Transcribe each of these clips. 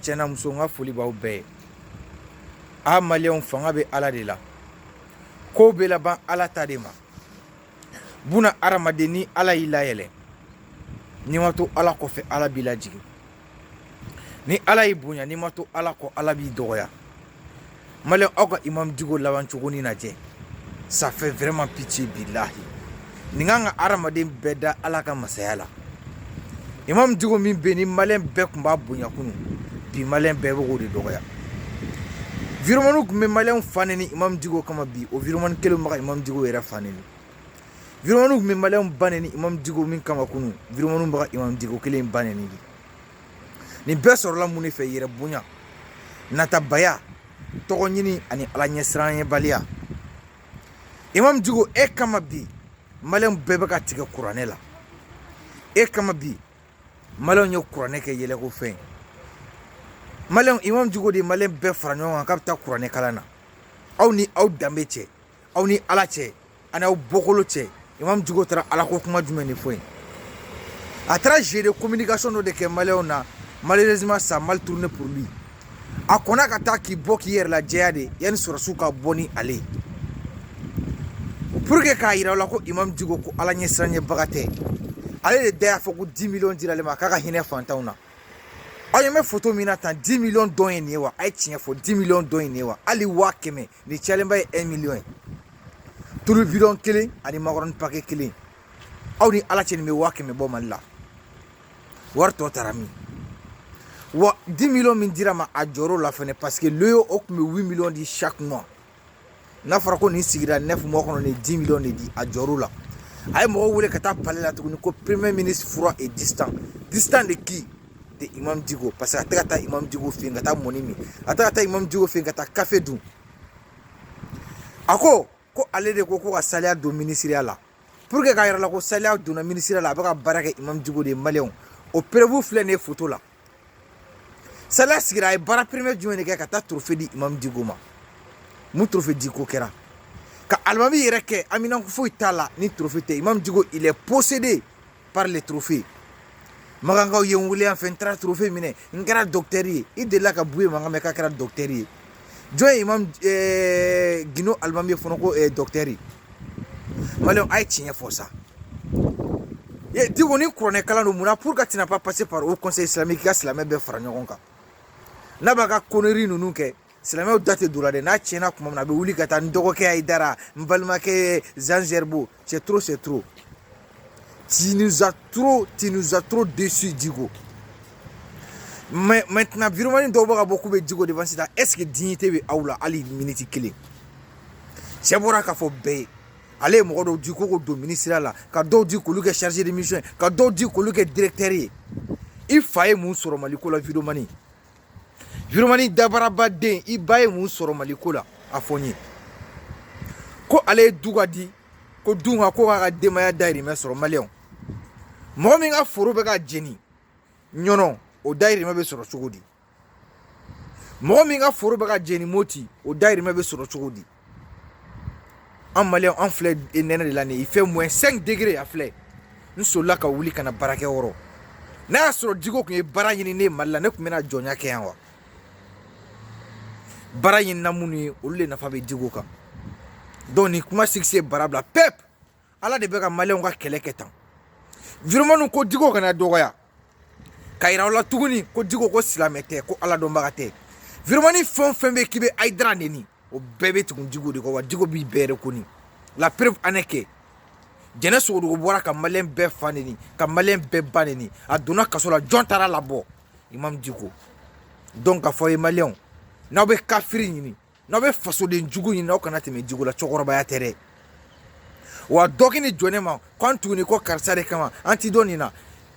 cɛ ni muso n ka foli b'aw bɛɛ ye a maliyɛnw fanga bɛ ala de la ko bɛ laban ala ta de ma buna adamaden ni ala y'i layɛlɛ n'i ma to ala kɔfɛ ala b'i lajigin ni ala y'i bonya n'i ma to ala kɔ ala b'i dɔgɔya maliyɛnw aw ka imam diko laban cogo nin lajɛ ça fait vraiment pitié billahi nin kan ka hadamaden bɛɛ da ala ka masaya la imam diko min bɛ nin maliyɛn bɛɛ tun b'a bonya kunu bi maliyɛn bɛɛ bɛ k'o de dɔgɔya videomaniw tun bɛ maliyɛnw fa neni imam diko kama bi o videomani kelen bɛ ka imam diko yɛrɛ fa neni videomaniw tun bɛ maliyɛnw ba neni imam diko min kama kunu videomaniw bɛ ka imam diko kelen ba neni de nin bɛɛ sɔrɔla mun de fɛ yɛrɛ bonya natabaya tɔgɔ ɲini ani ala ɲɛsiranɲɛbaliya imam diko e kama bi maliyɛnw bɛɛ bɛ ka tigɛ kuranɛ la e kama bi maliyɛnw ye kuranɛ kɛ yɛlɛko fɛn maliyɛnw imam diko de ye maliyɛn bɛɛ fara ɲɔgɔn kan k'a bɛ taa kuranɛ kalan na aw ni aw danbe cɛ aw ni ala cɛ ani aw bɔkolo cɛ imam diko taara ala ko kuma jumɛn de fɔ yen a taara jeu de communication dɔ de kɛ maliyɛnw na malheureusement ça a mal tourné pour lui a kɔnna ka taa k'i bɔ k'i yɛrɛ lajɛya de yanni sɔrɔsiw ka bɔ ni ale ye pour que k'a yira aw la ko imam diko ko ala ɲɛsiranɲɛbaga tɛ ale de da y'a fɔ ko 10 millions dira ale ma k'a ka hinɛ fantanw na aw ɲɛ bɛ foto min na tan 10 millions dɔn ye nin ye wa a ye tiɲɛ fɔ 10 millions dɔn ye nin ye wa hali waa kɛmɛ Nin cayalenba ye un million ye tulu bidɔn kelen ani makɔrɔni pake kelen aw ni ala cɛ nin bɛ waa kɛmɛ bɔ mali la wari tɔ taara min wa dix millions min dira a ma a jɔrɔla fɛnɛ parce que loyo o tun bɛ huit millions di chaque mois n'a fɔra ko nin sigira neuf mois kɔnɔ nin dix millions de di a jɔrɔla a ye mɔgɔw wele ka taa palais la tuguni ko premier ministre froid et distant distant de qui de imam diko parce que a tɛ ka taa imam diko fɛ yen ka taa mɔni min a tɛ ka taa imam diko fɛ yen ka taa kafe dun a ko ko ale de ko ko ka saliya don minisiriya la pour que k'a yira aw la ko saliya donna minisiriya la a bɛ ka baara kɛ imam diko de ye maliyɛnw o preuve filɛ nin ye foto la saliya sigira a ye baara premier jumɛn de kɛ ka taa trophée di imam diko ma mun trophée diko kɛra ka alimami yɛrɛ kɛ aminan foyi t'a la ni trophée tɛ imam diko il est possédé par les trophées makankaw ye n wele yan fɛ n taara trophée minɛ n kɛra docteur ye i delila ka buye mankan mɛn k'a kɛra docteur ye jɔn ye imam eh, gino alimami ye fɔlɔ ko eh, docteur ye maliyɛnw a ye tiɲɛ fɔ sa diko ni kuranɛ kalan don mun na pourquoi tu n'as pas passé par haut conseil islamique i ka silamɛ bɛɛ fara ɲɔgɔn kan n'a b'a ka connerie ninnu kɛ silamɛw da tɛ don la dɛ n'a tiɲɛna tuma min na a bɛ wuli ka taa n dɔgɔkɛ ayidara n balimakɛ zanzɛribo c'est trop c'est trop tu nous as trop tu nous as trop déçus diko mais maintenant virumani dɔw bɛ ka bɔ k'u bɛ diko défense ta est ce que dignité bɛ aw la hali miniti kelen cɛ bɔra k'a fɔ bɛɛ ye ale ye mɔgɔ dɔw di ko k'o don minisiriya la ka dɔw di k'olu kɛ chargé de mission ye ka dɔw di k'olu kɛ directeur ye i fa ye mun sɔrɔ mali ko la virumani Virumani dabarabaden i ba ye mun sɔrɔ mali ko la a fɔ n ye ko ale ye du ka di ko dun ka ko k'a ka denbaya dayirimɛ sɔrɔ maliyɛnw mɔgɔ min ka foro bɛ ka jeni ɲɔnɔ o dayirimɛ bɛ sɔrɔ cogo di mɔgɔ min ka foro bɛ ka jeni moti o dayirimɛ bɛ sɔrɔ cogo di an maliyɛn an filɛ nɛnɛ de la nin ye il fait moins 5 degrés a filɛ n solila ka wuli ka na baarakɛ yɔrɔ n'a y'a sɔrɔ diko tun ye baara ɲini ne mali la ne tun bɛna jɔnya kɛ yan wa baara ɲinina minnu ye olu de nafa bɛ diko kan donc nin kuma sigise baara bila pep ala de bɛ ka maliyɛnw ka kɛlɛ kɛ tan virumaniw ko diko kana dɔgɔya ka yira aw la tuguni ko diko ko silamɛ tɛ ko ala dɔnbaga tɛ virumani fɛn o fɛn bɛ k'i bɛ ayidara neni o bɛɛ bɛ tugu diko de kɔ wa diko b'i bɛɛ reconnu la preuve en est que jɛnɛ sogodogo bɔra ka maliyɛn bɛɛ fa neni ka maliyɛn bɛɛ ba neni a donna kaso la jɔn taara labɔ imam diko donc k'a fɔ ye maliyɛnw n'aw bɛ kafiri ɲini n'aw bɛ fasoden jugu ɲini aw kana tɛmɛ diko la cɛkɔrɔbaya tɛ dɛ wa dɔ k'i ni jɔ ne ma k'aw tugu ne kɔ karisa de kama an t'i dɔn nin na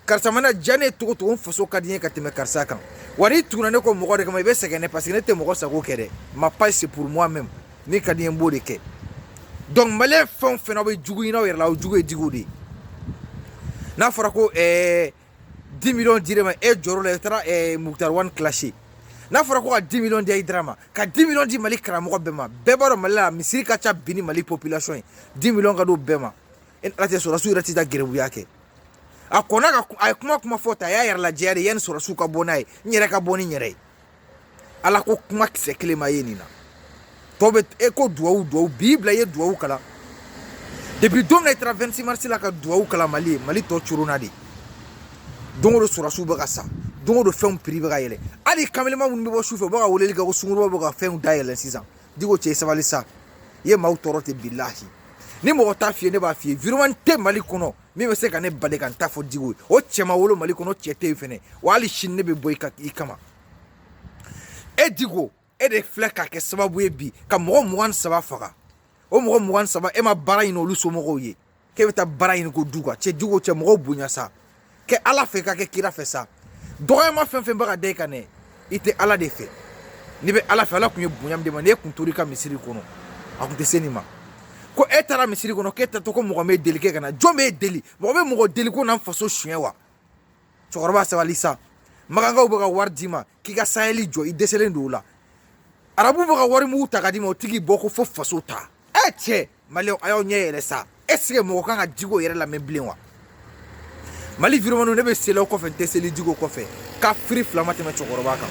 karisa mana diya ne ye cogo cogo n faso ka di n ye ka tɛmɛ karisa kan wa n'i tuguna ne kɔ mɔgɔ de kama i bɛ sɛgɛn ne paseke ne tɛ mɔgɔ sago kɛ dɛ ma page c'est pour moi même min ka di n ye n b'o de kɛ donc maliyɛn fɛn o fɛn aw bɛ jugu ɲini aw yɛrɛ la aw jugu ye diko de ye n'a fɔra ko ɛɛ 10 millions dir'e ma e jɔr'o la i taara eh, Mukutari wani clasher n'a fɔra ko ka 10 millions di Ayidara ma ka 10 millions di Mali karamɔgɔ bɛɛ ma bɛɛ b'a dɔn Mali la misiri ka ca bi ni Mali population ye 10 millions ka d'o bɛɛ ma e ni Ala cɛ sɔrɔdasiw yɛrɛ tɛ taa gɛrɛbuya kɛ a kɔnna ka a ye kuma kuma fɔ ta a y'a yɛrɛ lajɛya de yanni sɔrɔdasiw ka bɔ n'a ye n yɛrɛ ka bɔ ni n yɛrɛ ye ala ko kuma kisɛ kelen ma ye nin na tɔ bɛ e ko duwawu duwawu b'i bila i ye duwawu kalan depuis don min na i taara 26 mars la ka duwawu kalan mali ye mali tɔ corona de don o don sɔrɔsiw bɛ ka sa don o don fɛnw prix bɛ ka yɛlɛ hali kamelenba minnu bɛ bɔ su fɛ u bɛ ka weleli kɛ ko sungurunba bɛ ka fɛnw da yɛlɛ sisan diko cɛ sabali sa i ye maaw tɔɔrɔ dɛ bilahi ni mɔgɔ t'a f'i ye ne b'a f'i ye virumani tɛ mali kɔnɔ min bɛ se ka ne bali ka n ta fɔ diko ye o cɛ ma wolo mali kɔnɔ cɛ tɛ yen fɛnɛ wa hali sini ne bɛ bɔ i ka i kama e diko e de filɛ ka kɛ sababu ye bi ka mɔgɔ mugan ni saba faga o mɔgɔ mugan ni saba e ma baara ɲini olu somɔgɔw ye k'e bɛ taa baara ɲini ko du kan cɛ diko cɛ mɔgɔw bonya sa kɛ ala fɛ ka kɛ kira fɛ sa dɔgɔyama fɛn fɛn bɛ ka da i kan dɛ i tɛ ala de fɛ n'i bɛ ala fɛ ala tun ye bonya min d'i ma n'e tun tor'i ka misiri kɔnɔ a tun tɛ se nin ma ko e taara misiri kɔnɔ k'e taatɔ ko mɔgɔ m'e deli k'e ka na jɔn b'e deli mɔgɔ bɛ mɔgɔ deli ko na n faso suɲɛ wa cɛkɔrɔba sabali sa makankaw bɛ ka wari d'i ma k'i ka sahɛli jɔ i dɛsɛlen don o la arabu bɛ ka wari mugu ta ka d'i ma o tigi bɔ ko fo faso ta ɛ cɛ mali a y'aw ɲɛ yɛlɛ sa est ce que mɔgɔ kan ka jiko yɛrɛ lamɛn bilen wa mali vrai imamuw ne bɛ sel'aw kɔfɛ n tɛ seli jiko kɔfɛ kafiri fila ma tɛmɛ cɛkɔrɔba kan